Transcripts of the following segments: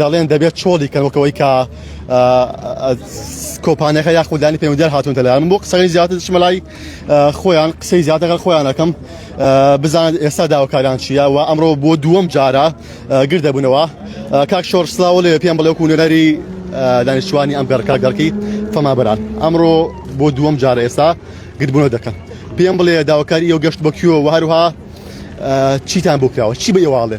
دەڵێن دەبێت چۆڵی کەن وەکەوەی کە کۆپانەکە یا خوددانی پەیوەندیار هاتون دەلایان بۆ قسەی زیاتر شمەلای خۆیان قسەی زیاتەکە خۆیانەکەم بزانێت ئێستا داواکاریان چیە و ئەمڕۆ بۆ دووەم جارە گر دەبوونەوە کاک شۆر سلااو لێ پێم بڵێ کوونەری دانیشتوانی ئەم گەڕکە گەڕکی فەمابران ئەمڕۆ بۆ دووەم جارە ئێستا گردبوونە دەکەن پێم بڵێ داواکاری ئەو گەشت بە کوێەوە هەروها چیتان بکراوە چی بە ئێواڵێ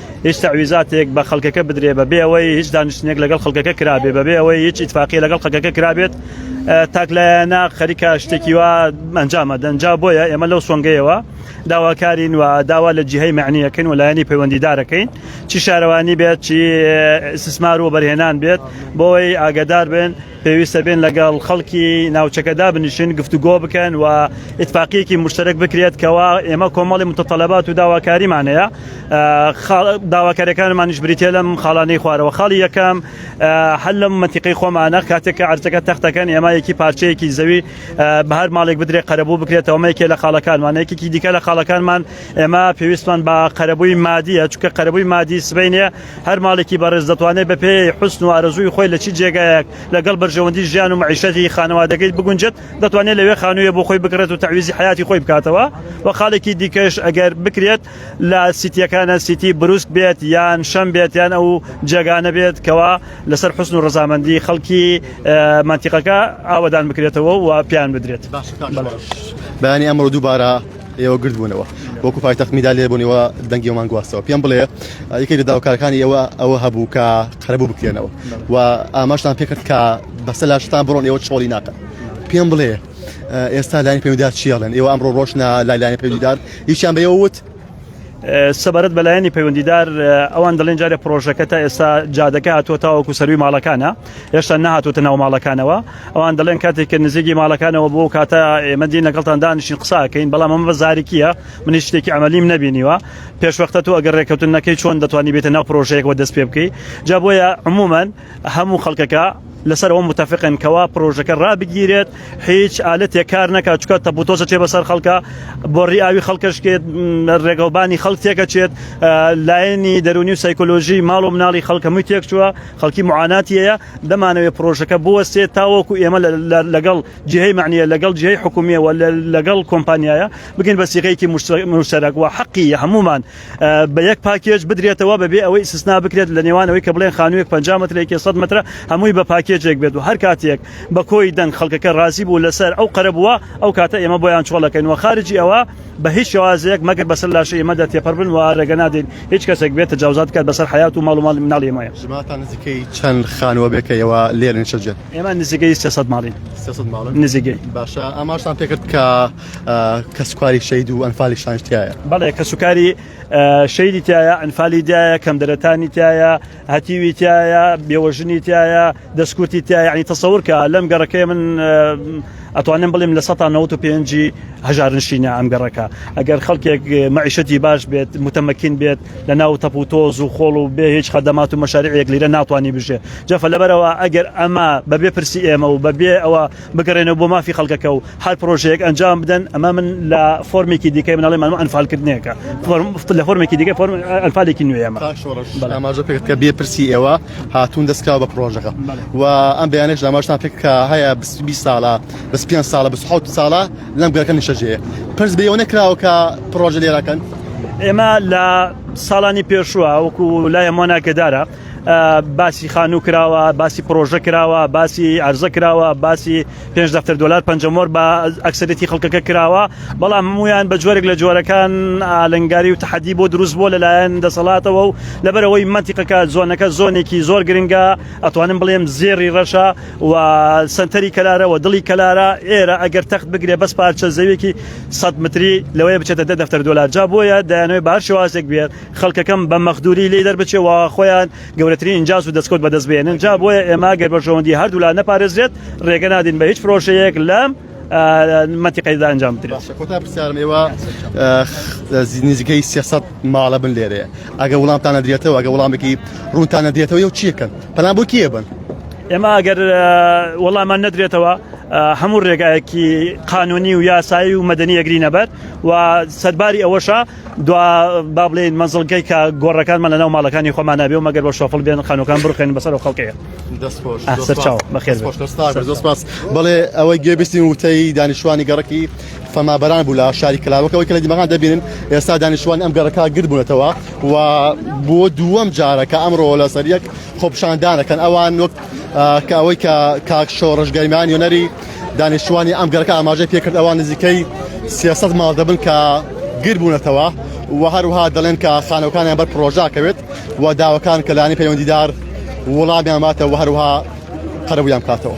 هیچ تەعویزاتێک بە خەڵکەکە بدرێ بە بێ ئەوەی هیچ دانیشتنێک لەگەڵ خەڵکەکە کرابێ بە بێ ئەوەی هیچ ئیتفاقی لەگەڵ خەکەکە کرابێت تاکلایەنە خەریکە شتێکی وا ئەنجامە دەنجا بۆیە ئێمە لەو سۆنگەیەوە داواکارین و داوا لە جیهی معنیەکەین و لایەنی پەیوەندیدارەکەین چی شارەوانی بێت چی سسمار و بەرهێنان بێت بۆی ئاگدار بێن پێویستە بێن لەگەڵ خەڵکی ناوچەکە دابنیشن گفتوگۆ بکەن و ئتفاقیەکی مشتەرەک بکرێت کەوا ئێمە کۆمەڵی متتەلەبات و داواکاریمان هەیە داواکاریەکانمانیش بریتە لەم خاڵانەی خوارەوە خاڵی یەکەم هەل لەم منتیقی خۆمانە کاتێک کە ئەرچەکە تەختەکەن ئێمە یەکی پارچەیەکی زەوی بە هەر ماڵێک بدرێ قەرەبوو بکرێتەوە مەیکێ لە خاڵەکانمان یەکێکی دیکە لە خاڵەکانمان ئێمە پێویستمان بە قەرەبووی مادیە چکە قەرەبووی مادی سبینە هەر ماڵێکی بەڕێز دەتوانێت بە پێی حوسن و ئارەزووی خۆی لە چی جێگایەک لەگەڵ بەرژەوەندی ژیان و مەعیشەتی خانەوادەکەی بگونجێت دەتوانێت لەوێ خانوویە بۆ خۆی بکڕێت و تەعویزی حەیاتی خۆی بکاتەوە و خاڵێکی دیکەش ئەگەر بکرێت لە سیتیەکانە سیتی بروسک بێت یان شەم بێت یان ئەو جێگانە بێت کەوا لەسەر حوسن و ڕەزامەندی خەڵکی مەنتیقەکە ئاوەدان بکرێتەوە و پیان بدرێت. بەیانی ئەمڕۆ دووبارە ئێوە گرد بوونەوە وەکو پایتەخت میدالێ بوونەوە دەنگی ئەومان گواستەوە پێم بڵێ یەکێک لە داوکارەکانی ئێوە ئەوە هەبوو کە قەرەبوو بکرێنەوە و ئاماشتان پێکرد کە بەسە لاشتان بڕۆن ئێوە چۆڵی ناکە پێم بڵێ ئێستا لایەن پێودار چیڵێن ئێوە ئەمڕۆ ڕۆشنە لایلایەن پێودار هیچیان بە ئێوە وت سەبارەت بەلایەنی پەیوەندیدار ئەوان دەڵێن جارە پرۆژەکە تا ئێستا جادەکە هاتووە تاوەکو سەروی ماڵەکانە هێشتا نەهاتووتە ناو ماڵەکانەوە ئەوان دەڵێن کاتێک کە نزیکی ماڵەکانەوە بۆ کاتە ئێمە دین لەگەڵتان دانیشین قساکەین بەڵام ئەمە بە زارکیە منی شتێکی ئەمەلیم نبینیوە پێشوەختە تو ئەگەر ڕێککەوتن نەکەی چۆن دەتوانانی بێتە ناو پرۆژەیەکەوە دەست پێ بکەی جا بۆیە عموما هەموو خەڵکەکە لەسەر ئەو متفقن کەوا پرۆژەکە ڕابگیرێت هیچ ئالەتێک کار نەکات چکە تەبوتۆزە چێ بەسەر خەڵکە بۆ ڕیاوی خەڵکەشکێت ڕێگەڵبانی خەڵک تێکەچێت لایەنی دەرونی و سایکۆلۆژی ماڵ و مناڵی خەڵکەمووی تێکچووە خەڵکی معاناتی هەیە، دەمانەوێت پڕۆژەکە بوەستێت تاوەکو ئێمە لەگەڵ جیهەی مەعنیە، لەگەڵ جیهەی حکومیە و لەگەڵ کۆمپانیایە بگەین بە سیغەیەکی موشتەرەک و حەقی هەموومان بە یەک پاکێج بدرێتەوە بەبێ ئەوەی ئیستسنا بکرێت لە نێوان ئەوەی کە بڵێن خانوویەک پەنجا مەترە یەکێ سەد مەترە هەمووی بە پاکێجێک بێت و هەر کاتێک بە کۆی دەنگ خەڵکەکە رازی بوو لەسەر ئەو قەرەبووە ئەو کاتە ئێمە بۆیان چۆڵەکەین و خارجی ئەوە بە هیچ شێوازێک مەگەر بەسەر لاشەی ئێمەدا تێپەر بن و ڕێگە نادەین هیچ کەسێک بێت تەجاوزات بکات بەسەر حەیات و ماڵ و ماڵی مناڵی ئێمە. ژمارەتان نزیکەی چەند خانووە بێ کە ئێوە لێرە نیشتە جێن؟ ئێمە نزیکەی سێ سەد ماڵین. سێ سەد ماڵن؟ نزیکەی. باشە ئاماژتان پێ کرد کە کەسوکاری شەید و ئەنفالی شانشتایە؟ بەڵێ کەسوکاری شەیدی تایە، ئەنفالی دایە، کەمدەرەتانی تایە، هەتیوی تایە بێوەژنی تایە دەستکورتی تیا یعنی تەسەورکە لەم گەڕەکەی من ئەتوانم بڵێم لە 1995 هەژارنشینە ئەم گەڕەکە ئەگەر خەڵکێک مەعیشەتی باش بێت متەمەکین بێت لە ناو تەپ و تۆز و خۆڵ و بێ هیچ خەدەمات و مەشارێک لیرە ناتوانانی بژێ جەفە لەبەرەوە ئەگەر ئەمە بەبێ پرسی ئێمە و بەبێ ئەوە بگەڕێنەوە بۆ مافی خەڵکەکە و هەر پرۆژەیەک ئەنجام بدەن ئەمە من لە فۆرمێکی دیکەی مناڵی مانمە ئەنفالکردنێکە لە فۆرمێکی دیکە فۆرم ئەلفالێکی نوێمە ئاماژە پێکرد کە بێپرسی ئێوە هاتوون دەستکراوە بە پرۆژەکە و ئەم بەیانێش داماشتان پێک کە هەیە 20 ساڵە بەس پێ ساڵە بە حوت ساڵە لەم گەرەکە نیشەجێ پرس بێەوە نەکراوە کە پرۆژە لێراکەن ئێمە لە ساڵانی پێشوە وەکو لای هەمووان ناکەدارە باسی خانوو کراوە باسی پرۆژە کراوە باسی ئەرزە کراوە باسی پێنج دەفتەر دلار پنجمۆر بە ئەکسەرێتی خەڵکەکە کراوە بەڵام هەمویان بە جۆرێک لە جۆرەکان ئالنگاری و تحدی بۆ دروست بۆ لەلایەن دەسەڵاتەوە و لەبەرەوەی منتیقەکە زۆنەکە زۆنێکی زۆر گرنگە ئەتوانم بڵێم زێری ڕەشە و سنتەری کەلارەوە دڵی کەلارە ئێرە ئەگەر تەخت بگرێ بەس پارچە زەوێکی 100 متری لەوەیە بچێتە دە دەفتەر دلار جا بۆیە دایانەوەی بار شێوازێک بێت خەڵکەکەم بە مەخدوری لی دەربچێ و خۆیان گەورەترین ئینجاز و دەستکەوت بەدەست بێنن، جا بۆیە ئێمە گەر بەرژەوەندی هەردوولا نەپارێزرێت رێگە نادەین بە هیچ پرۆژەیەک لەم مەنتیقەیەدا ئەنجام بدرێت. باشە کۆتا پرسیارم ئێوە نزیکەی سێ سەد ماڵە بن لێرەیە ئەگەر وڵامتان نەدرێتەوە ئەگەر وڵامێکی روونتان نەدرێتەوە یەو چیەکەن پەنا بۆ کێ بن؟ ئێمە ئەگەر وەڵامان نەدرێتەوە هەموو رێگایەکی قانونی و یاسایی و مەدەنی ئەگرینەبەر و سەرباری ئەوەشە دوا با بڵێین مەزڵگەی کە گۆڕەکانمان لەناو ماڵەکانی خۆمان نابێ و مەگەر بە شۆفڵ بێن خانوەکان بڕخێن بەسەر و خەڵکەیە دەستپاس بڵێ ئەوەی گوێبیستی وتەی دانیشتوانی گەڕکی فەمابران بوو لە شاری کلاوەکەەوەی کە لە دیمەغان دەبینن ئێستا دانیشتوان ئەم گەڕەکە گردبوونەتەوە و بۆ دووەم جارەکە ئەمڕۆ لەسەر یەک خۆپشاندانەکەن ئەوان وەک کە ئەوەی کە کاک شۆڕژگەرمیان یۆنەری دانیشتوانی ئەم گەڕەکە ئاماژەی پێکرد ئەوان نزیکەی سێسەد ماڵ دەبن کە گر بوونەتەوە و هەروها دەڵێن کە خانەکانیان بەر پرۆژاکەوێت و داواکان کە لانی پەیوەندیدار وڵامیان باتەوە هەروها قەرەبوویان کاتەوە.